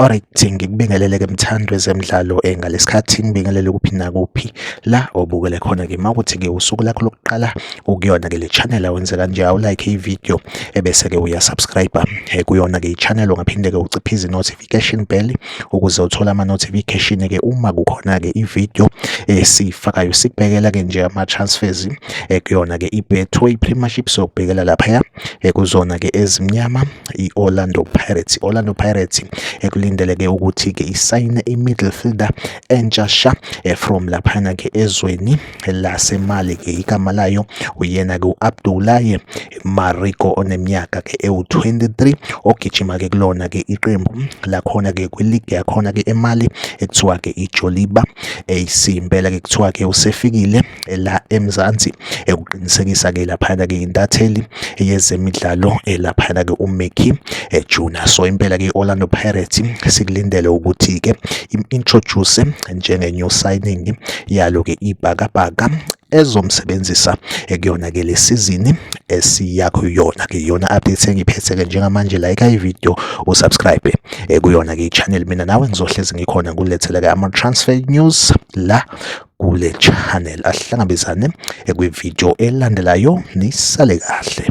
Alright, ngikubingelele ke mthandwe zemidlalo eh, ngalesikhathi ngibingelele kuphi nakuphi la obukele khona ke mawukuthi ke usuku lakho lokuqala ukuyona ke le channel awenze kanje awu like i-video ebese ke uya subscribe eh, kuyona ke i-channel ungaphinde ke uciphize i-notification bell ukuze uthole ama-notification ke uma kukhona ke i-video esiyifakayo eh, sikubhekela ke nje ama-transfers eh, kuyona ke i-betway premiership sokubhekela laphaya kuzona ke ezimnyama i-orlando pirates i-orlando pirates ekulindeleke ukuthi ke isayine i-middle fielder entsha sha from laphana ke ezweni lasemali ke igama layo uyena ke uAbdullahi Mariko oneminyaka ke ewu23 ogijima ke kulona ke iqembu lakhona ke kwiligi yakhona ke emali ekuthiwa ke iJoliba AC impela ke kuthiwa ke usefikile la eMzansi ekuqinisekisa ke laphana ke intatheli yezemidlalo elaphana ke uMeki eh, Juna so impela ke Orlando Pirates sikulindele ukuthi ke introduce njenge new signing yalo-ke ibhakabhaka ezomsebenzisa ekuyona-ke le sizini esiya kuyona-ke iyona update engiphethe-ke njengamanje like ividiyo usubscribe eh, kuyona-ke i-channel mina nawe ngizohlezi ngikhona kulethela-ke ama-transfer news la kule channel ahlangabezane eh, kwividiyo elandelayo nisale kahle